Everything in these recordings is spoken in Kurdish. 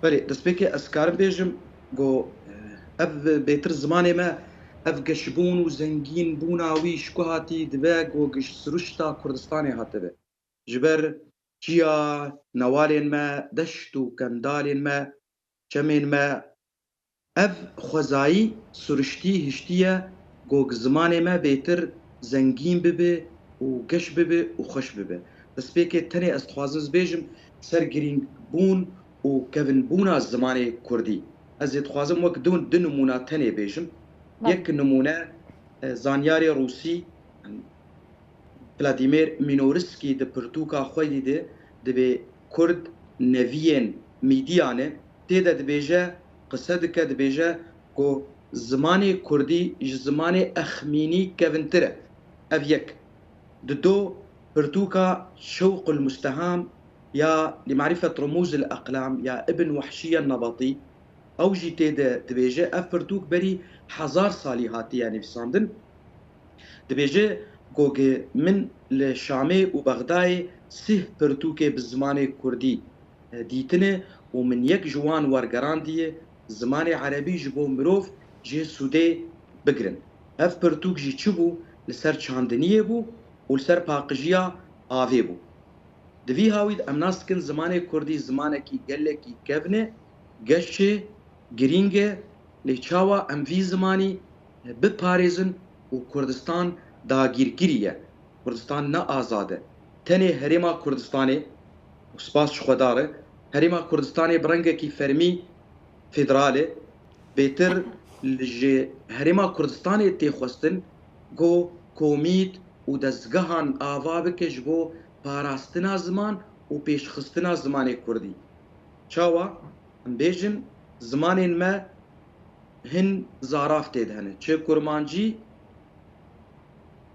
Belê, destpêkê ez karim bêjim ku ev bêtir zimanê me, ev geşbûn û zengînbûna wî ji ku hatî dibe ku ji siruşta Kurdistanê hatibe. Ji ber çiya newalên me, deşt û kendalên me Çemên me Ev xwezayî suriştî hiştiye gog zimanê me bêtir zengîn bibe û geş bibe û xweş bibe. Destpêkê tenê ez dixwazim zbêjim ser girîngbûn û kevinbûna zimanê kurdî. Ez ê dixwazim wek du du nimûna tenê bêjim. Yek nimûne zanyarê rûsî Vladimir Minorskî di pirtûka xwedî de dibê. Kurd neviyên Mîdyanê tê de dibêje, qise dike dibêje ku zimanê Kurdî ji zimanê Exmînî kevintir e. Ev yek. Di do pirtûka Şewqulmusteham ya Limarîfet Rumûzil Eqlam ya Ibn Wahşî El Nebatî ew jî tê de dibêje ev pirtûk berî hezar salî hatiye nivîsandin. Dibêje goge min li Şamê û Bexdayê sih pirtûkê bi zimanê kurdî dîtine û min yek ji wan wergerandiye zimanê erebî ji bo mirov jê sûdê bigirin. Ev pirtûk jî çi bû? Li ser çandiniyê bû û li ser paqijiya avê bû. Di vî hawî de em nas dikin zimanê kurdî zimanekî gelekî kevn e, geş e, girîng e lê çawa em vî zimanî, biparêzin û Kurdistan dagîrkirî ye, Kurdistan ne azad e. Tenê Herêma Kurdistanê û spas ji xwe dar e, Herêma Kurdistanê bi rengekî fermî federal e, bêtir li ji Herêma Kurdistanê tê xwestin ku komît û dezgehan ava bike ji bo parastina ziman û pêşxistina zimanê kurdî. Çawa? Em bêjin zimanên me Hin zaraf tê de hene. Çi kurmancî,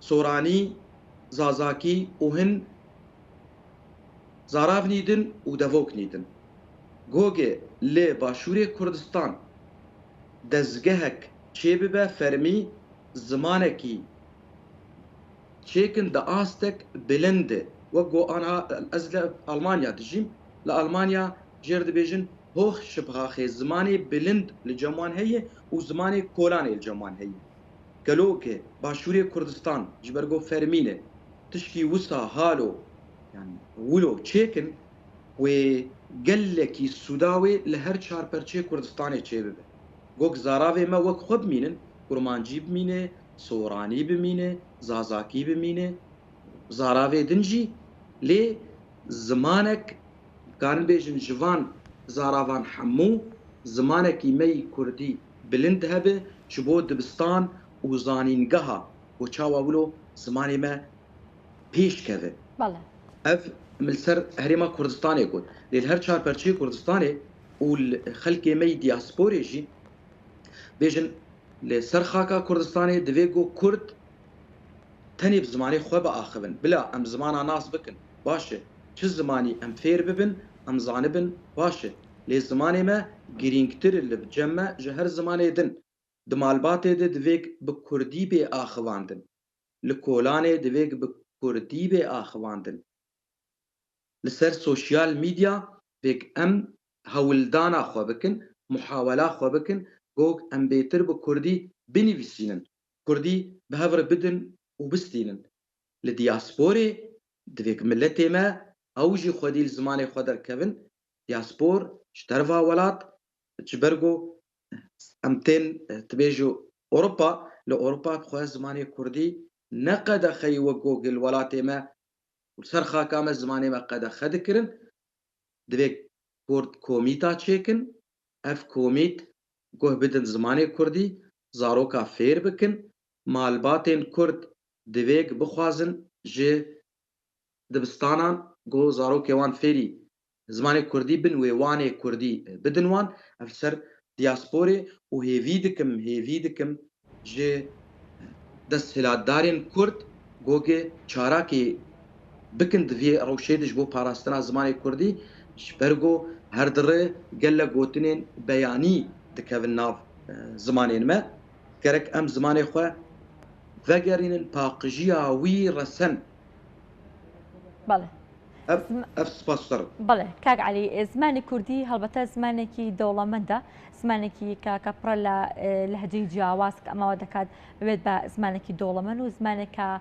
soranî, zazakî û hin zaraf nîdin û devok nîdin. Gogê li başûrê Kurdistan dezgehek çê bibe fermî zimanekî çêkin di astek bilind e. Wek ku an a ez li Almanya dijîm, li Almanya, jêr dibêjin Hoh Şibhaxê zimanê bilind li cem wan heye û zimanê kolanê li cem wan heye. Gelo ke Başûrê Kurdistan ji ber ku fermî ne tişkî wisa halo yan wilo çêk in wê gelekî sûda wê li her çar perçê Kurdistanê çêbibe. Gog zaravê me wek xwe bimînin Kurmancî bimîne, Soranî bimîne, Zazakî bimîne zaravê din jî lê zimanek Dikarin bêjin ji van zaravan hemû zimanekî me yî kurdî bilind hebe ji bo dibistan û zanîngeha bo çawa wilo zimanê me pêş keve. Ev min li ser herêma Kurdistanê got. Lê li her çar perçeyê Kurdistanê û li xelkê me yî diasporê jî bêjin li ser xaka Kurdistanê divê ku kurd Tenê bi zimanê xwe biaxivin. Bila em zimana nas bikin, baş e. Çi zimanî em fêr bibin, em zanibin, baş e. Lê zimanê me girîngtir e li cem me ji her zimanê din. Di malbatê de divê bi kurdî bê axivandin. Li kolanê divê bi kurdî bê axivandin. Li ser sosyal medya divê em hewildana xwe bikin, muhawela xwe bikin, gog em bêtir bi kurdî binivîsînin. Kurdî bi hev re bidin û bistînin. Li diyasporê divê ku miletê me ew jî xwedî li zimanê xwe derkevin. Diyaspor ji derva welat ji ber ku em tên tu bê ji Ewropa, li Ewropa dixwe zimanê kurdî ne qedexeyî wek ku li welatê me û li ser xaka me zimanê me qedexe dikirin. Divê kurd komîta çêkin. Ev komît guh bidin zimanê kurdî zaroka fêr bikin, malbatên Kurd divêg bixwazin ji dibistanan ku zarokê wan fêrî zimanê Kurdî bin wê wanê Kurdî bidin wan, ev li ser diasporê û hêvî dikim hêvî dikim ji desthilatdarên Kurd ku çarakê. bikin di vî rewşê de ji bo parastina zimanê kurdî ji ber ku her dire gelek gotinên beyanî dikevin nav zimanên me, gerek em zimanê xwe vegerînin paqijiya wî resen. Bale. Ev ev spas ser in. Bale kak Elî, zimanê kurdî helbete zimanekî dewlemend e, zimanekî ke ke pir e li lehceyî ciyawaz ke ema we dikat bibêt be zimanekî dewlemend û zimaneke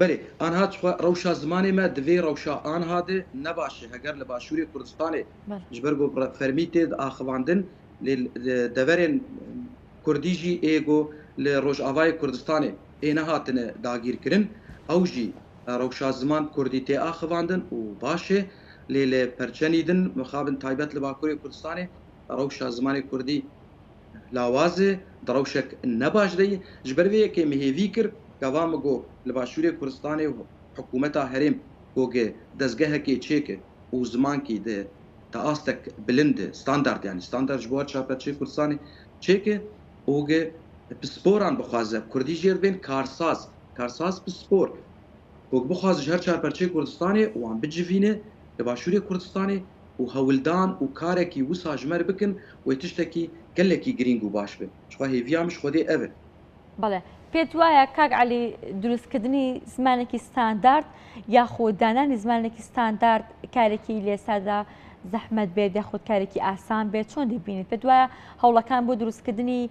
Belê, anha tuxwe rewşa zimanê me di vê rewşa anha de ne baş e. Heger li başûrê Kurdistanê ji ber ku fermî tê axivandin lê li deverên Kurdî jî ê ku li Rojavayê Kurdistanê ê nehatine dagîrkirin ew jî rewşa ziman Kurdî tê axivandin û baş e. Lê li perçenî din mixabin taybet li Bakurê Kurdistanê rewşa zimanê Kurdî. Lawazê di rewşek ne baş de ye. Ji ber vê yekê min hêvî kir gava min got li başûrê Kurdistanê hikûmeta herêm gogê dezgehekê çêke û zimankî di di astek bilind de standard yanî standard ji bo her çarpevçeyê Kurdistanê çêke û gi pisporan bixwaze Kurdî jêr bên karsaz karsaz pispor gog bixwaze ji her çarpevçeyê Kurdistanê wan bicivîne li başûrê Kurdistanê û hewldan û karekî wisa ji me re bikin wê tiştekî gelekî girîng û baş be. Ji xwe hêviya min ji Xwedê ev e. Bale. Pê tu waya kak Elî dirûstkirdinî zimanekî standard ya xwedîdananî zimanekî standard karekî lê sada zehmet bê dê xwedkarekî asan bê çon dibînî? Pê tu waya hewlekan bo dirûstkirdinî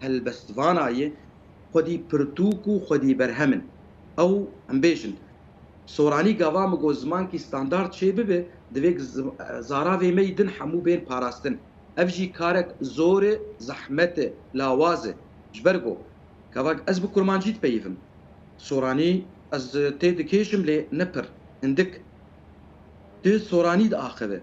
helbestvana ye xwedî pirtûk û xwedî berhem in. Ew em bêjin. Soranî gava min got zimankî standard çê bibe divêk zaravê me yî din hemû bên parastin. Ev jî karek zor e, zehmet e, lawaz e. Ji ber ku kevak ez bi kurmancî dipeyivim. Soranî ez tê dikêşim lê ne pir. Hindik tu soranî diaxive.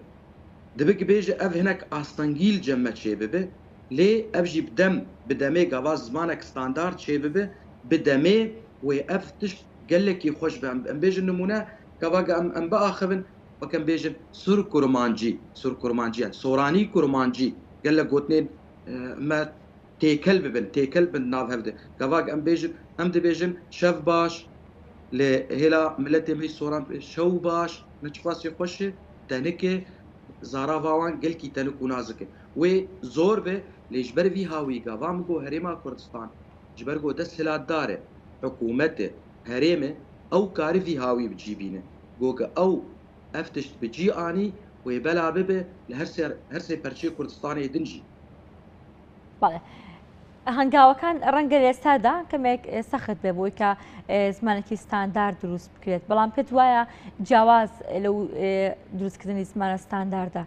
Dibe ki bêje ev hinek astengîl cem me çê bibe. lê ev jî bi dem bi demê gava zimanek standard çê bibe bi demê wê ev tişt gelekî xweş be em bêjin nimûne gava ge em em biaxivin wek em bêjin sur kurmancî sur kurmancî yan soranî kurmancî gelek gotinên me têkel bibin têkel bin nav hev de gava ge em bêjin em dibêjin şev baş lê hêla miletê me soran şew baş me çiqasê xweş e tenike zara va wan gelkî tenik û nazik e. Wê zor be lê ji ber vî hawîga va min ku Herêma Kurdistan ji ber ku desthilatdar e, hikûmet e, herêm e, ew karî vî hawî bi cî bîne. Ku ka ew ev tişt bi cî anî wê bela bibe li her sê her sê perçeyê Kurdistanê din jî. Bale. Hengawekan renge li ser de kemek sext be bo ka zimanekî standard dirûst bikiret. Belam pê tu waya ciyawaz li durustkirnî zimana standarda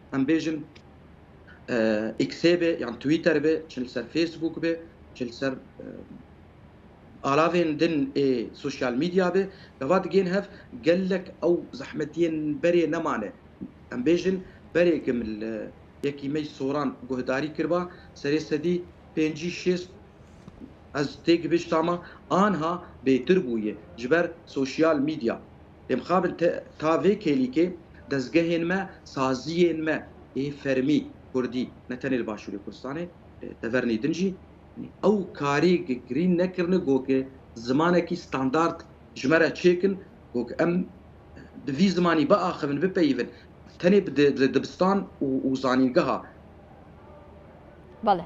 em bêjin Xê be yan Twitter be, çi li ser Facebook be, çi li ser alavên din ê sosyal medya be, gava digên hev gelek ew zehmetiyên berê nemane. Em bêjin berêkim li yekî me soran guhdarî kirba serê sedî pêncî şêst ez têgihişta me anha bêtir bûye ji ber sosyal medya. Lê mixabin ta vê kêlîkê dezgehên me, saziyên me ê fermî kurdî ne tenê li Başûrê Kurdistanê, li Tevernê Din jî ew karê girîn nekirine ku zimanekî standard ji me re çêkin ku em bi vî zimanî biaxivin, bipeyivin tenê bi dibistan û zanîngeha. Bale.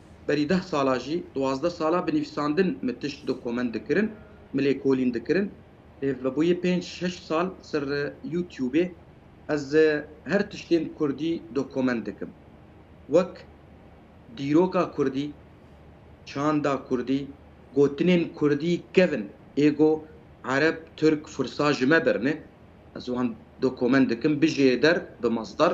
Berî deh sala jî duwazdeh sala bi nivîsandin min tişt dokumend dikirin, min lêkolîn dikirin. Lê vebûyê pênc şeş sal ser Youtubê ez her tiştên kurdî dokumend dikim. Wek dîroka kurdî, çanda kurdî, gotinên kurdî kevin ê ku ereb, tirk, fursa ji me birine, ez wan dokumend dikim, bijê der bi masdar.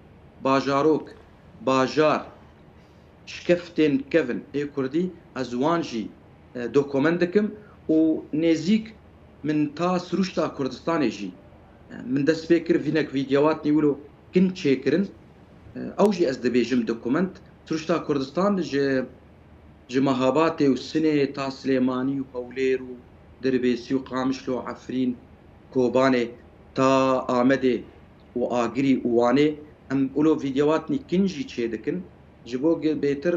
bajarok, bajar, şkeftên kevn ê kurdî ez wan jî dokomen dikim û nêzîk min ta sirûşta Kurdistanê jî min dest pê kir vînek vîdyewatnî wilo kin çêkirin ew jî ez dibêjim dokoment sirûşta Kurdistan ji ji Mehabatê û Sinê ta Silêmanî û Hewlêr û Dirbêsî û Qamişlo Efrîn Kobanê ta Amedê û Agirî û Wanê em ulo vîdyowatnî kin jî çêdikin ji bo ge bêtir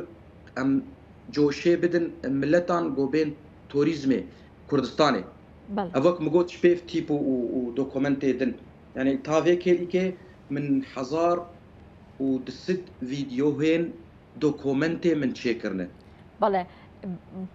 em coşê bidin miletan go bên torîzmê Kurdistanê. Ev wek min got ji pêv tîpo û dokumentê din. Yanî ta vê kêlîkê min hezar û du sed vîdyohên dokumentê min çêkirine. Bale.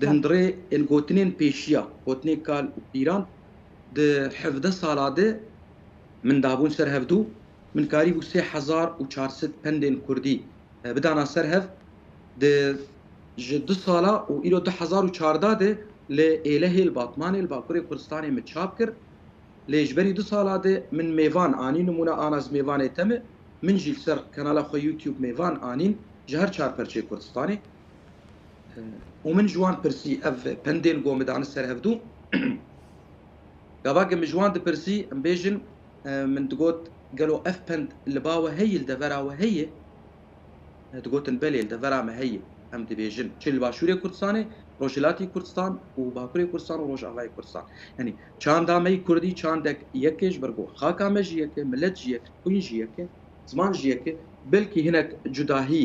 Di hundirê ên gotinên pêşiya gotinên kal û pîran di hevdeh sala de min dabûn ser hev dû, min karîbû sê hezar û çar sed pendên kurdî bidana ser hev di ji du sala û îro du hezar û çardeh de li Êlehê li Batmanê li Bakurê Kurdistanê min çap kir. Lê ji berî du sala de min mêvan anîn nimûne Anas Mêvanê te me, min jî li ser kanala xwe YouTube mêvan anîn ji her çar perçê Kurdistanê. Û min ji wan pirsî ev pendê li gor min dane ser hevdû. Gavakê min ji wan dipirsî em bêjin min digot gelo ev pend li ba we heye li devera we heye? Digotin belê li devera me heye. Em dibêjin çi li Başûrê Kurdistanê, Rojhilatî Kurdistan û Bakurê Kurdistan û Rojavayê Kurdistan. Yanî çanda me yî Kurdî çandek yek e ji ber ku xaka me jî yek e, milet jî yek e, xwîn jî yek e, ziman jî yek e, belkî hinek cudahî,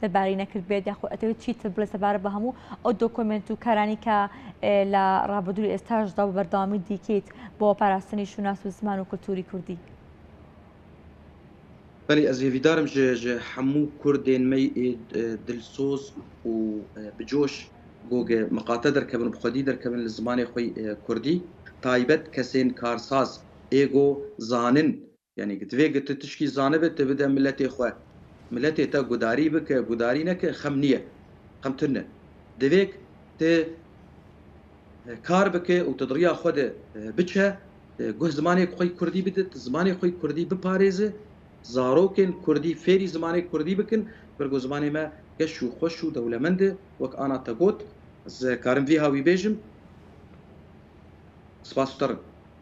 te barî nekirdibêt ya xwe etewê çî tibû li sebar bi hemû ew dokumênt û karanî ke la rabidûrî êsta ji da bi berdewamî dîkît bo parastinî şûnas û ziman û kultûrî kurdî. Belê ez hêvîdar im ji ji hemû kurdên me yê dilsoz û bi coş gog miqate derkevin û bi xwedî derkevin li zimanê xwe kurdî, taybet kesên karsaz êgo zanin Yanî ki divê tu tişkî zanibe tu bide miletê xwe. Miletê te gudarî bike, gudarî neke xem nîye. Xem tune. Divê tu kar bike û tu di riya xwe de biçe, guh zimanê xwe kurdî bide, tu zimanê xwe kurdî biparêze, zarokên kurdî fêrî zimanê kurdî bikin, bir ku zimanê me geş û xweş û dewlemend e, wek ana te got, ez karim vîha wî bêjim. Spas te rin.